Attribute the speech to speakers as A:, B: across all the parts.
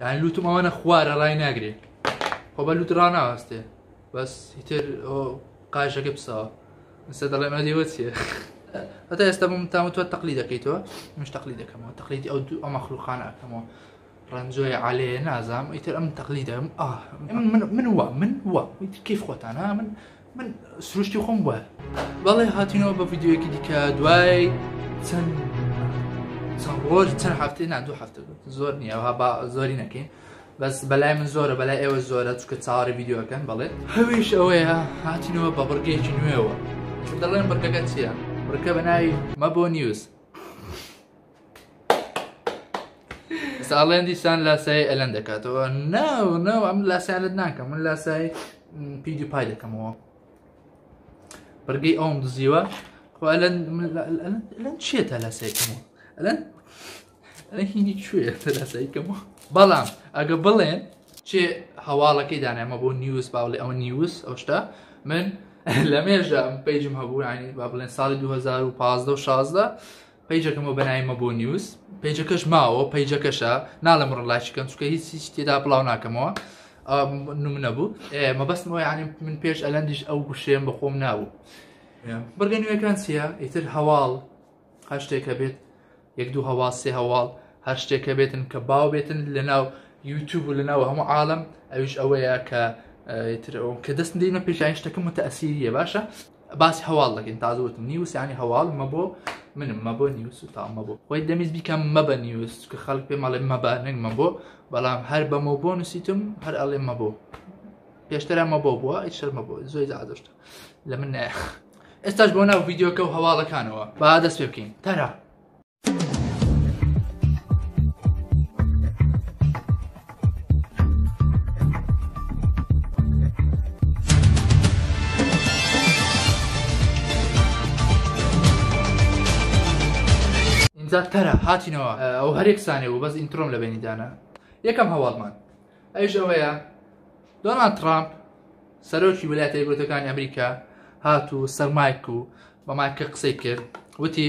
A: یعنی لوتم ئەوانە خوارە ڕای ناگرێ خۆ بە لوت ڕناوەستێ بەس هیتر قایشەکە پسەوە ئستا دەڵێ مە لێوە چیە هەتا ئێستا بم تام تۆ تەقلی دەکەیتەوە مش تەقلی دەکەمەوە تەقلیدی ئەو دوو ئەمە خلوخان ئەکەمەوە ڕەنجۆی عالێ نازام ئیتر ئەم تەقلی دەم من وە من وە کیف خۆتانە من من سروشتی خۆم بوار بەڵێ هاتینەوە بە ڤیددیوەکی دیکە دوای چەند چەند ڕۆژ چەند هەفتێ نا دوو هەفتە زۆر نییە با زۆری نەکەین بەس بەلای من زۆرە بەلای ئێوە زۆرە چکە چاوەڕی ڤیددیوەکەن بڵێت هەویش ئەوەیە هاتینەوە بە بڕگەیەکی نوێەوە دەڵێن بڕگەکە چییە بڕکە بە ناوی مەبۆ نیوز ساڵێن دیسان لاسایی ئەلەن دەکاتەوە ناو ناو ئەم لاسیانت ناکەم من لاسایی پیدی پای دەکەمەوە بەرگەی ئەوم دزیوە ئەلەن چێتە لاسایکەمەوە ئەلەن هینی کوێ لاسایکەمەوە بەڵام ئەگە بڵێن چێ هەواڵەکەی دانامە بۆ نیوز باڵێ ئەو نیوز ئەو شتا من لە مێژە پێیجم هەبوو ینی با بڵێن ساڵی 2015 16 پەیجەکەمە بەناوی مەبۆ نیوز پەیجەکەش ماوە پەیجەکەشە ناڵم ڕ لایچ کەن چکە هیچ هیچ تێدا بڵاو ناکەمەوە نمونە بوو مەبەستمەوە یعنی من پێش ئەلەندیش ئەو گوشێن بە خۆم نابوو بڕگە نوێەکان چییە ئیتر هەواڵ هەر شتێکە بێت یەک دوو هەواڵ سێ هەواڵ هەر شتێکە بێتن کە باو بێتن لە ناو یوتوب و لە ناو هەموو عاالم ئەوش ئەوەیە کە تر کە دەست دەینە پێشانی شتەکە متەسیریە باشە باسی هەواڵ دەکەین تازە وتم نیوس یانی هەواڵ مە بۆ منم مە بۆ نیوس و تامە بۆ خۆی دەمیز بیکەم مە بە نیوس کە خەڵک پێ مەڵێ مەبە نەک مە بۆ بەڵام هەر بەمە بۆ نووسیتم هەر ئەڵێ مە بۆ پێشترە مە بۆ بووە ئیت شەرمە بۆ زۆی زادشتە لە من نایخ ئێستاش بۆ ناو ڤیددیوکە و هەواڵەکانەوە با دەست پێ بکەین تەرا ئینجا تەرە هاتینەوە ئەو هەرێک سانێ بوو بەس ئینترۆم لە بینی دانا یەکەم هەواڵمان ئەوش ئەوەیە دۆنان ترامپ سەرۆکی ویلایەتە یەکگرتەکانی ئەمریکا هات و سەر مایک و بە مایکە قسەی کرد وتی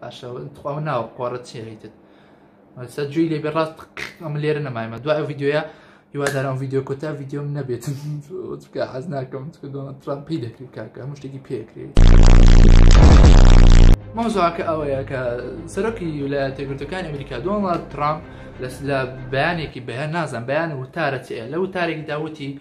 A: باشە تخوا و ناوە قۆڕە چیە هەیتت سە جوی لێبێ ڕاست ئەم لێرە نەمایمە دوای ڤیددیوە هیوادارم ڤیددیو کۆتا ڤیددیۆم نەبێت چکە حەز ناکەم دۆنە ترامپ پێی دەکرێت کاکە هەموو شتێکی پێکرێت مۆزاکە ئەوەیە کە سەرۆکی ویلایەتە گرتەکان ئەمریکا دۆنڵد ترامپ لە بەیانێکی بەیان نازان بەیان وتارە چەیە لە وتارێکی داوتی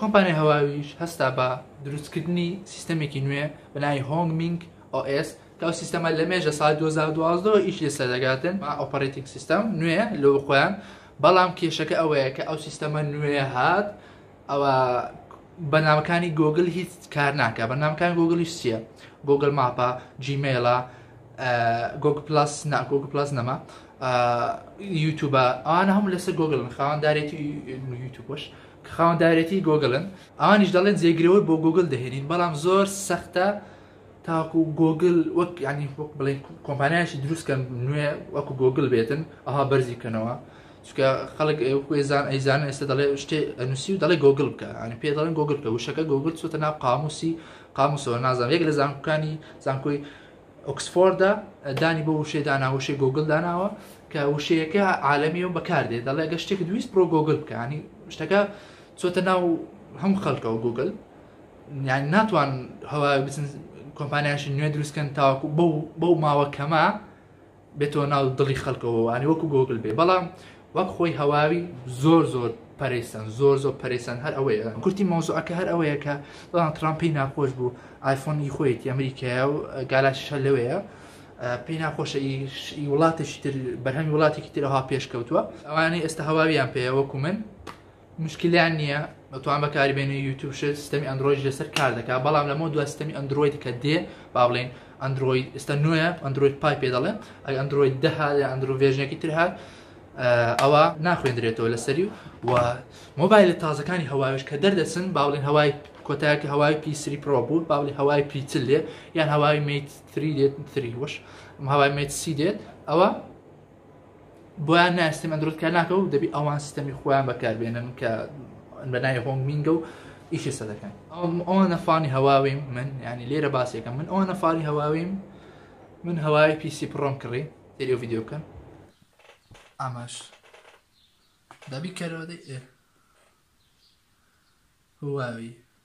A: کۆمپانیای هواویش هەستا بە دروستکردنی سیستەمێکی نوێ بە ناوی هۆنگ مینگ OS کە ئەو سیستەمە لە مێژە ساڵ 2012 ئیش لەسەر دەگاتن ئۆپەرەیتینگ سیستەم نوێ لۆ خۆیان بەڵام کێشەکە ئەوەیە کە ئەو سیستەمە نوێ هات ئەوە بەنامەکانی گۆگل هیچ کار ناکە بەنامەکان گۆگلیش چییە گۆگل ماپە جیمێڵە گۆگ پلاس ناگۆگ پلاس نەما یوتوبە ئەوانە هەموو لەسەر گۆگل خاوەندارێتی یوتوبش کە خاوەندارێتی گۆگلن ئەوانیش دەڵێن جێگرەوەی بۆ گۆگل دەهێنین بەڵام زۆر سەختە تاکو گۆگل وەک ینی وەک بڵێن کۆمپانیایشی دروستکەن نوێ وەکو گۆگل بێتن ئەها بەرزی بکەنەوە چکە خەڵک ئێزان ئەیزان ئێستا دەڵێ شتێ ئەنووسی و دەڵێ گۆگل بکە ئەنی پێ دەڵێن گۆگل بکە وشەکە گۆگل چۆتە ناو قاموسی قاموسەوە نازان یەک لە زانکانی زانکۆی ئۆکسفۆردە دانی بۆ وشەی دانا وشەی گۆگل داناوە کە وشەیەکە عالەمی و بەکاردێت دەڵێ گە شتێک دویست بۆ گۆگل بکانی شتەکە چۆتە ناو هەم خەڵکەوە گوگل یان ناتوان هەوا بچن کۆمپانیاشی نوێ دروستکەن تاواکو بەو بەو ماوە کەمە بێتەوە ناو دڵی خەلکەوە وانێ وەکو گۆگل بێ بەڵام وەک خۆی هەواوی زۆر زۆر پەرەیسەن زۆر زۆر پەرەیسەن هەر ئەوەیە کورتی مەوزوعەکە هەر ئەوەیە کە دڵان ترامپی ناخۆش بوو ئایفۆنی خۆیەتی ئەمریکایە و گالاشە لەوەیە پێی ناخۆشە ئی وڵاتێکی تر بەرهەمی وڵاتێکی ترەها پێشکەوتووە ئەوانەی ئێستا هەواویان پێەوەکو من موشکیلیان نیە دەتوان بەکاری بێنی یوتوب شت سیستەمی ئەندرۆیدی لەسەر کار دەکات بەڵام لەمەوە دوا سیستەمی ئەندرۆید کە دێ با بڵێن ئەندرۆید ئێستا نوێە ئەندرۆید پای پێ دەڵێن ئەگە ئەندرۆید دەها یا ئەندرۆ ڤێژنێکی تر هات ئەوە ناخوێندرێتەوە لەسەری و مۆبایلە تازەکانی هەواوێش کە دەردەچن با بڵێن هەوای کۆتایەکە هەوای پیسری پرۆ بوو با بڵێ هەوای پیچل لێ یان هەوای میت 3 دێت 3 وش هەوای میت سی دێت ئەوە بۆیان نایە سیستەمی ئەندرۆید کار ناکە و دەبی ئەوان سیستەمی خۆیان بەکاربێنن کە بەناوی هۆنگ مینگە و ئیشی سە دەکەن ئەوان نەفانی هەواویم من ینی لێرە باسێکەکەم من ئەوان نەفانی هەواویم من هەوای پیسی پڕۆم کڕی تێری و یددیو بکەن ئاماش دەبی کەرەوەدەی هواوی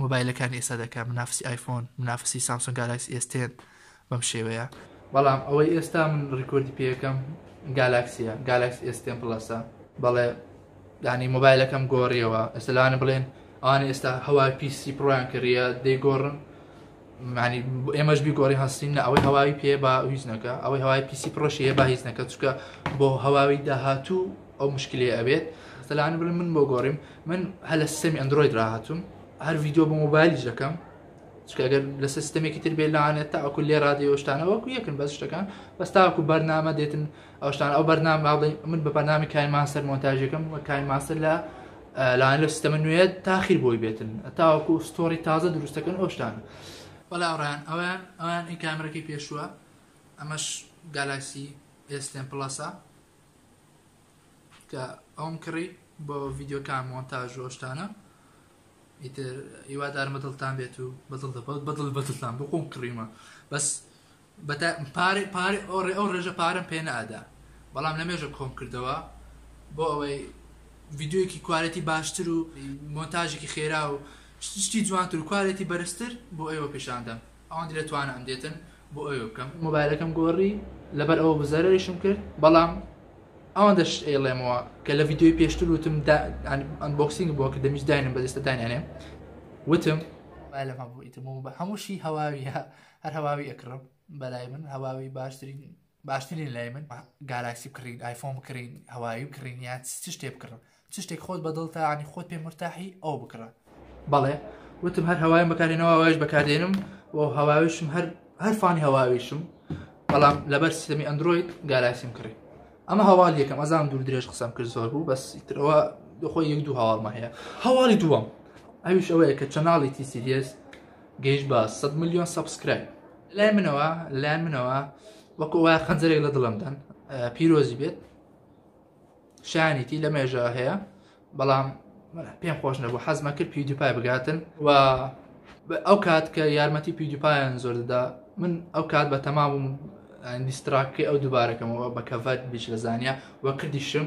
A: مۆبایلەکانی ئێستا دەکەن منافسی ئایفۆن منافسی سامسۆن گالاکسی ئێس تێن بەم شێوەیە بەڵام ئەوەی ئێستا من ڕیکۆردی پێەکەم گالاکسیە گالاکس ئێستێن پڵەسە بەڵێ دانی مۆبایلەکەم گۆڕیەوە ئەسلانە بڵێن ئانی ئێستا هەوا پیسی پڕیان کردە دەیگۆڕن یانی ئێمەش بیگۆڕی هەستین نە ئەوەی هەواوی پێ با هیچ نەکە ئەوەی هەوای پیسی پرۆشی هەیە با هیچ نەکە چکە بۆ هەواوی داهاتوو ئەو مشکلی ئەبێت سەلان بڵێ من بۆ گۆڕیم من هە لە سیستەمی ئەندروید راهاتوم هەر ڤیددیو بۆ مۆبایلیش دەکەم چکەگەر لە سیستەمێکی تر بێ لاانێت تاکو لێ رادیۆشتانەوەکو یەکن بەس شتەکان بەس تاکو بەرنامە دێتن ئەو شتانە ئەو بەرنامە با بڵێین من بە بەرنامی کاین ماستەر مۆنتاژەکەم و کاین ماستەر لە لاین لە سیستەمە نوێ تاخیر بۆی بێتن تاوەکو ستۆری تازە دروستەکەن ئەو شتانە بەڵا ئەڕیان ئەویان ئەویان ئی کامرەکەی پێشووە ئەمەش گالاکسی ئێستێن پڵەسە کە ئەوم کڕی بۆ ڤیددیوکان مۆنتاژ و شتانە ئیتر ئیوادارمە دڵتان بێت و بەدڵ دەبڵ بەدڵ بەدڵتان بخۆم کڕیمە بەس بەتا پارەی پارەی ئەو ڕێ ئەو ڕێژە پارەم پێ نەئەدا بەڵام لەمێژە کۆم کردەوە بۆ ئەوەی ڤیدیۆیەکی کوالێتی باشتر و مۆنتاژێکی خێرا و شت- شتی جوانتر و کوالێتی بەرزتر بۆ ئێوە پیشان دەم ئەوەندی لە توانام دێتن بۆ ئەوێ بکەم مۆبایلەکەم گۆڕی لەبەر ئەوە بوو زەرەریشم کرد بەڵام ئەوەندە شت ئەیڵێمەوە کە لە ڤیدیۆی پێشتر وتم دا ئەنبۆکسینگ بۆ کردم هیچ داینێم بەدەستە دانیانێم وتم مۆبایلم هەبوو ئیتر مۆبا- هەمووشی هەواویە هەر هەواوی ئەکڕم بەلای من هەواوی باشترین باشترین لای من گالاکسی بکڕین ئایفۆن بکڕین هەواوی بکڕین یان چ شتێ بکڕم چ شتێک خۆت بەدڵتە ینی خۆت پێ مرتاحی ئەو بکڕە بەڵێ وتم هەر هەوایم بەکارێنەوە ئەوش بەکاردێنم و هەواویشم هەر هەر فانی هەواویشم بەڵام لەبەر سیستمی ئەندروید گالاکسیم کڕی ئەمە هەواڵ یەکەم ئەزان دوور درێژ قسەم کرد زۆر بوو بەس ترەوە دخۆی یەک دوو هەواڵمە هەیە هەواڵی دووەم ئەویش ئەوەیە کە چەناڵی تی سیریس گەیشت بە سەد ملیۆن سەبسکرایب لای منەوە لای منەوە وەکو وای خەنجەرێک لە دڵمدان پیرۆزی بێت شانیتی لە مێژە هەیە بەڵام پێم خۆش نەبوو حەزمە کرد پیودیپای بگاتن و ئەو کات کە یارمەتی پیودیپایان زۆر دەدا من ئەو کات بە تەمابووم دیستراکەی ئەو دووبارەکەمەوە بە کەڤەت بیش لە زانیا وە کردیشم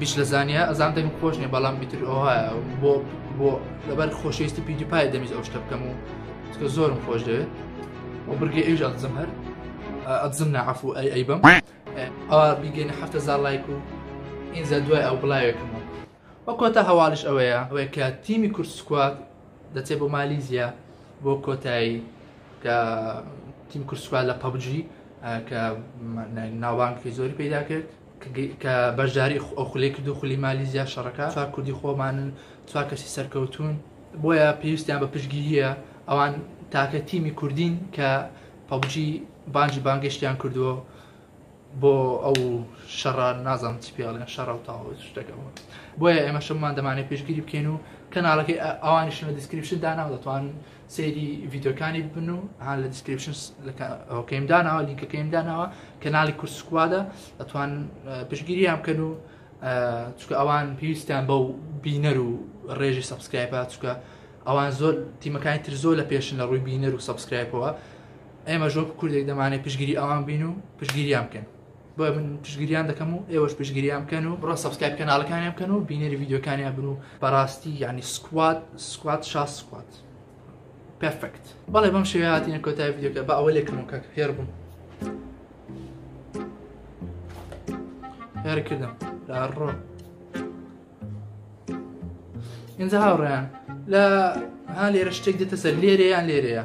A: بیش لە زانیا ئەزان دەمی خۆش نیە بەڵام میتر ئۆهە بۆ بۆ لەبەر خۆشەویستی پیدی پای دەمیز ئەو شتە بکەم و چکە زۆرم خۆش دەوێت و برگە ئێژ ئەزم هەر ئەزم نەعفو ئەی ئەی بم ئەوە بیگەین هەفتە زار لایک و ئینجا دوای ئەو بڵاوێکم و وەکۆتە هەواڵش ئەوەیە ئەوەیە کە تیمی کورد سکوات دەچێت بۆ مالیزیە بۆ کۆتایی کە تیم کورسوال لە پەبجی کە ناوانکی زۆری پیدا کرد کە بەشداری ئەو خولەی کردو خولی مالیزیا شەڕەکە چوار کوردی خۆمانن چوار کەسی سەرکەوتوون بۆیە پێویستیان بە پشگیرییە ئەوان تاکە تیمی کوردین کە پەبجی بانجی بانگشتیان کردووە بۆ ئەو شەڕە نازم چی پێڵێن شەڕە و تاوە شتەکەەوە بۆیە ئێمە شەمان دەمانێت پێشگیری بکەین و کەناڵەکەی ئەوانیشن لە دیسکریپشن داناو دەتوان سەیری ڤیدیۆکانی بن و هان لە دیسکریپشن ئەوکەیم داناوە لینکەکەیم داناوە کەناڵی کورس سکوادە ئەتوان پشگیریان بکەن و چکە ئەوان پێویستیان بەو بینەر و ڕێژی سەبسکرایپە چکە ئەوان زۆر تیمەکانی تر زۆر لە پێشن لە ڕووی بینەر و سەبسکرایپەوە ئێمە ژۆک کوردێک دەمانێت پشگیری ئەوان بین و پشگیریان بکەن بۆیە من پشتگریان دەکەم و ئێوەش پشتگریان بکەن و بڕۆ سەبسکایب کەناڵەکانیان بکەن و بینەری ڤیدیۆکانیان بن و بەڕاستی یعنی سکواد سکواد شاز سکواد پێرفکت بەڵێ بەم شێوەیە هاتینە کۆتای ڤیدیۆکە بە ئەوە لێکم و کاک هێر بووم هێر کردم لە ڕۆ ئینجا هاوڕێیان لە ها لێرە شتێک دێتە سەر لێرەیان لێرەیە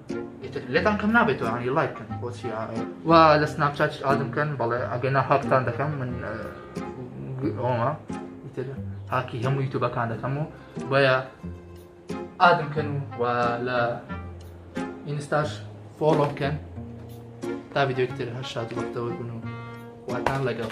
A: ئیتر لێتان کەم نابێتەوە هەنی لایک بکەن بۆچی و لە سناپ چات ئادم بکەن بەڵێ ئەگەر نا هاکتان دەکەم من ئەومە ئیتر هاکی هەموو یوتوبەکان دەکەم و بۆیە ئادم بکەن و لە ئینستاش فۆڵۆ بکەن تا ڤیددیوکتر هەر شاد وەختەوە بن و واتان لەگەڵ.